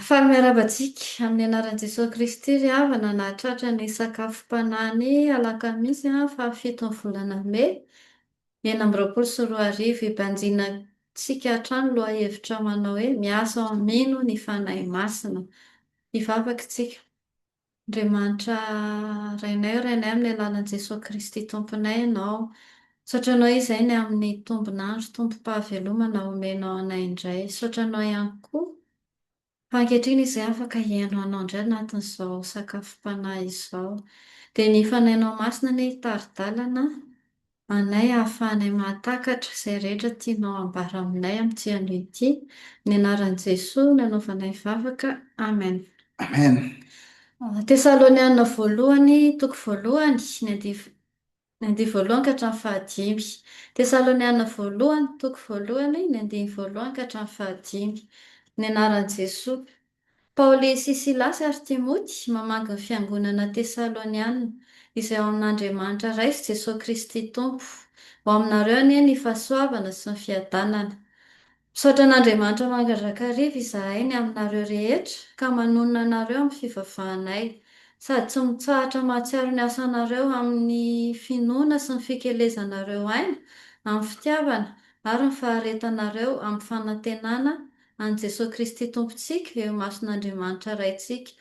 Faly miarahaba antsika amin'ny anaran'i Jesoa Kristy ry havana nahatratra ny sakafom-panahy ny alakamisy fahafiton'ny volana mey enina amby roapolo sy roa arivo. Hibanjinantsika hatrany lohahevitra manao hoe Miasa ho Mino ny Fanahy Masina. Hivavaka isika. Andriamanitra Rainay ô Rainay amin'ny alalan'i Jesoa Kristy Tomponay Ianao. Misaotra Anao Izainy amin'ny tombon'andro tompom-pahavelomana omenao anay indray. Misaotra Anao ihany koa fa ankehitriny izay afaka hihaino Anao indray anatin'izao sakafom-panahy izao. Dia ny Fanahinao Masina anie hitari-dalana anay ahafahanay mahatakatra izay rehetra tianao hambara aminay amin'ity anio ity, amin'ny anaran'i Jesoa no anaovanay vavaka, amen. Amen. Tesaloniana Voalohany, toko voalohany, ny andiv. Ny andiany voalohany ka hatramin'ny fahadimy. Tesaloniana Voalohany, toko voalohany, ny andiny voalohany ka hatramin'ny fahadimy. Amin'ny anaran'i Jesoa. Paoly sy Silasy ary Timoty mamaky ny fiangonana Tesaloniana, izay ao amin'Andriamanitra Ray sy Jesoa Kristy Tompo. Ho aminareo anie ny fahasoavana sy ny fiadanana. Misaotra an'Andriamanitra mandrakariva izahay ny aminareo rehetra ka manonona anareo amin'ny fivavahanay, sady tsy mitsahatra mahatsiaro ny asanareo amin'ny finoana sy ny fikelezanareo aina amin'ny fitiavana ary ny faharetanareo amin'ny fanantenana an'i Jesoa Kristy Tompontsika eo imason'Andriamanitra Raintsika.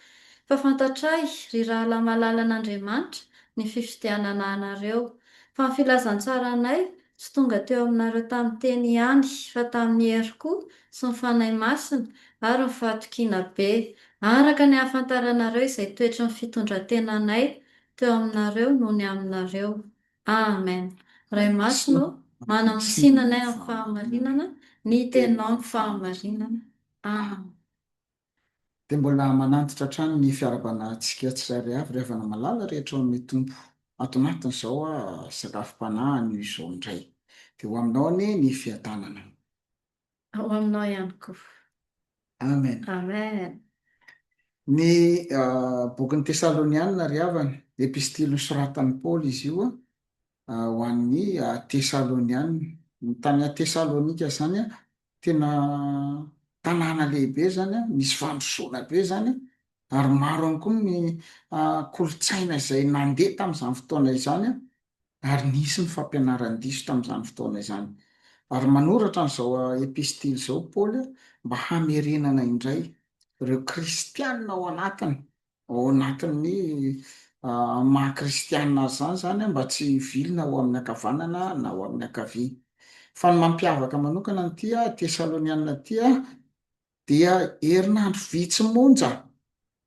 Fa fantatray, ry rahalahy malala an'Andriamanitra, ny fifidianana anareo. Fa ny filazantsaranay tsy tonga teo aminareo tamin'ny teny ihany, fa tamin'ny hery koa, sy ny Fanahy Masina, ary ny fahatokiana be, araka ny hahafantaranareo izay toetry ny fitondrantenanay teo aminareo nony aminareo. Amen Ray masina ô manamosina anay amin'ny fahamarinana ny teninao ny fahamarinana Amen. Dia mbola manantitra hatrany ny fiarabanantsika tsirairay avy ry havana malala rehetra ao amin'ny Tompo. Ato anatiny izao aho sakafom-panahy anio izao indray. Dia ho aminao anie ny fiadanana. Ao aminao ihany koa. Amen. Amen. Ny bokin'ny Tesalonianina ry havana, epistily nosoratan'i Paoly izy io ho an'ny Tesalonianina. Ny tany Tesalonika izany tena tanàna lehibe izany, misy fandrosoana be izany, ary maro ihany koa ny kolontsaina izay nandeha tamin'izany fotoana izany, Ary nisy ny fampianaran-diso tamin'izany fotoana izany. Ary manoratra an'izao epistily izao Paoly mba hamerenana indray ireo kristiana ao anatiny, ao anatin'ny maha kristiana azy izany izany, mba tsy hivilina ho amin'ny ankavanana na ho amin'ny ankavia. Fa ny mampiavaka manokana an'ity Tesaloniana ity Dia herinandro vitsy monja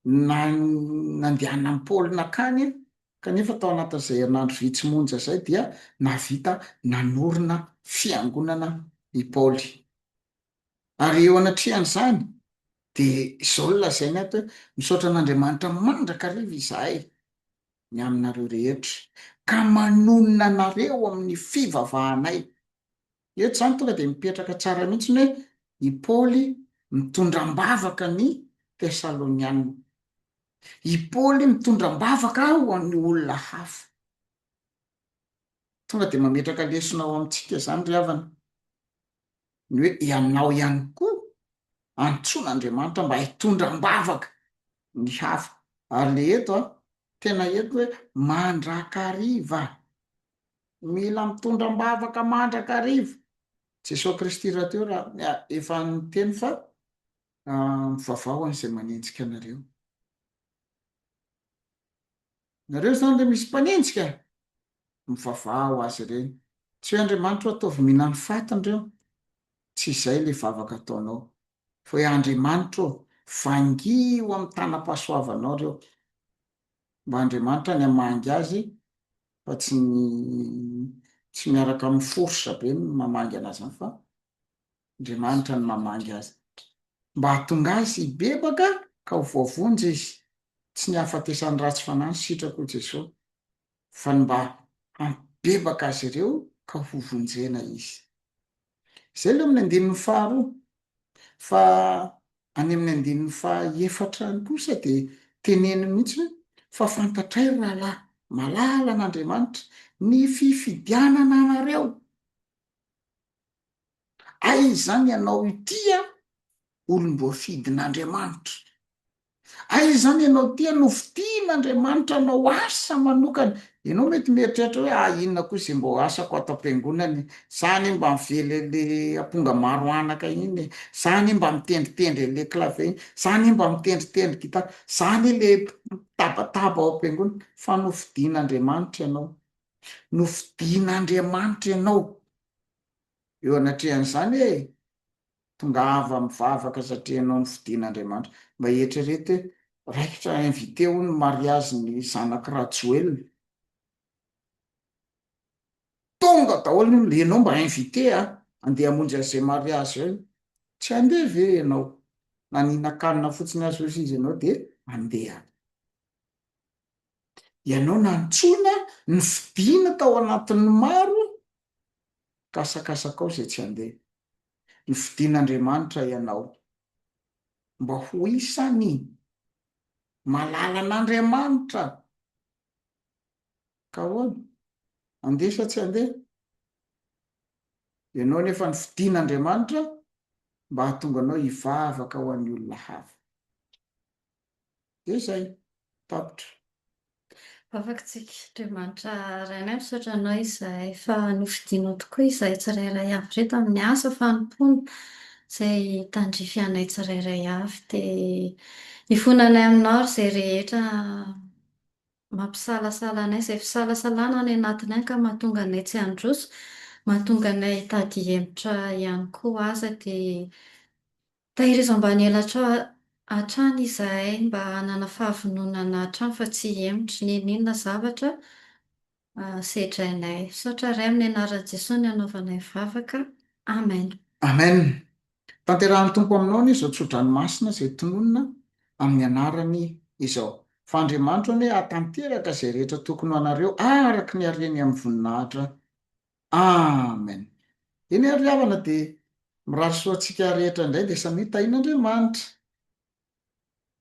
no nandehanan'i Paoly nankany, kanefa tao anatin'izay herinandro vitsy monja izay dia nahavita nanorina fiangonana i Paoly. Ary eo anatrehan'izany, dia izao no lazainy ato hoe, Misaotra an'Andriamanitra mandrakariva izahay ny aminareo rehetra, ka manonona anareo amin'ny fivavahanay. Eto izany tonga dia mipetraka tsara mihitsy ny hoe i Paoly mitondra am-bavaka ny Tesalonianina. I Paoly mitondra am-bavaka ho an'ny olona hafa. Tonga dia mametraka lesona ao amintsika izany ry havana, ny hoe ianao ihany koa antsoin'Andriamanitra mba hitondra am-bavaka ny hafa. Ary ilay eto, tena eto hoe mandrakariva, Mila mitondra am-bavaka mandrakariva. Jesoa Kristy rahateo raha efa niteny fa mivavao an'izay manenjika anareo. Nareo izany dia misy mpanenjika, mivavao azy ireny. Tsy hoe Andriamanitra hoe ataovy mila ny fatiny ireo. Tsy izay ilay vavaka ataonao. Fa hoe Andriamanitra ô, vangio amin'ny tanam-pahasoavanao ireo. mba Andriamanitra ny hamangy azy fa tsy ny tsy miaraka amin'ny force be ny mamangy anazy zany fa Andriamanitra ny mamangy azy mba hahatonga azy hibebaka ka ho voavonjy izy tsy ny hahafatesany ratsy fanahy ny sitrako hoy Jesosy fa ny mba hampibebaka azy ireo ka hovonjena izy. Izay aloha amin'ny andininy faharoa. Fa any amin'ny andininy fahaefatra any kosa dia teneniny mihitsy hoe, Fa fantatray, ry rahalahy, malala an'Andriamanitra, ny fifidianana anareo. Aiza izany ianao ity an? Olom-boafidin'Andriamanitra. Hay izany ianao tia no fitian'Andriamanitra anao asa manokana. Ianao mety mieritreritra hoe ah inona koa izay mbô asako ato am-piangonana e? Za anie mba mively an'le aponga maro anaka iny e! Za anie mba mitendritendry an'le clavier iny! Za anie mba mitendritendry gitara! Za anie le mpitabataba ao am-piangonana! Fa nofidin'Andriamanitra ianao. Nofidin'Andriamanitra ianao. Eo anatrehan'izany e! Tongava mivavaka satria ianao no fidin'Andriamanitra. Mba eritrereto hoe raikitra invité hono ny mariage ny zanak'i Rajoelina. Tonga daholo ny olona, ianao mba invité a! Andeha hamonjy an'izay mariage zay. Tsy handeha ve ianao? Na nihinan-kanina fotsiny aza hozy izy ianao dia handeha. Ianao nantsoina, nofidina tao anatin'ny maro Kasakasakao izay tsy handeha. Ny fidin'Andriamanitra ianao. Mba ho isan'ny malala an'Andriamanitra. Ka ahoana? Handeha sa tsy handeha? Ianao anefa ny fidin'Andriamanitra mba hahatonga anao hivavaka ho an'ny olona hafa. Dia izay. Tapitra. Afakotsika. Andriamanitra Rainay, misaotra Anao izahay fa nofidinao tokoa izahay tsirairay avy ireto amin'ny asa fanompoana izay tandrify anay tsirairay avy. Dia ifona anay Aminao ary izay rehetra mampisalasala anay, izay fisalasalana any anatiny any ka mahatonga anay tsy handroso, mahatonga anay hitady hemotra ihany koa aza dia Tahirizao ambany elatrao hatrany izahay mba hanana fahavononana hatrany fa tsy hihemotra n'inon'inona zavatra sedrainay. Misaotra Ray amin'ny anaran'i Jesoa ny hanaovanay vavaka. Amen. Amen! Tanterahan'ny Tompo aminao anie izao tsodranomasina izay tononina amin'ny anarany izao. Fa Andriamanitro anie hahatanteraka izay rehetra tokony ho anareo araka ny hareny amin'ny voninahitra Amen eny ary ry havana dia mirary soa antsika rehetra indray dia samia tahian'Andriamanitra.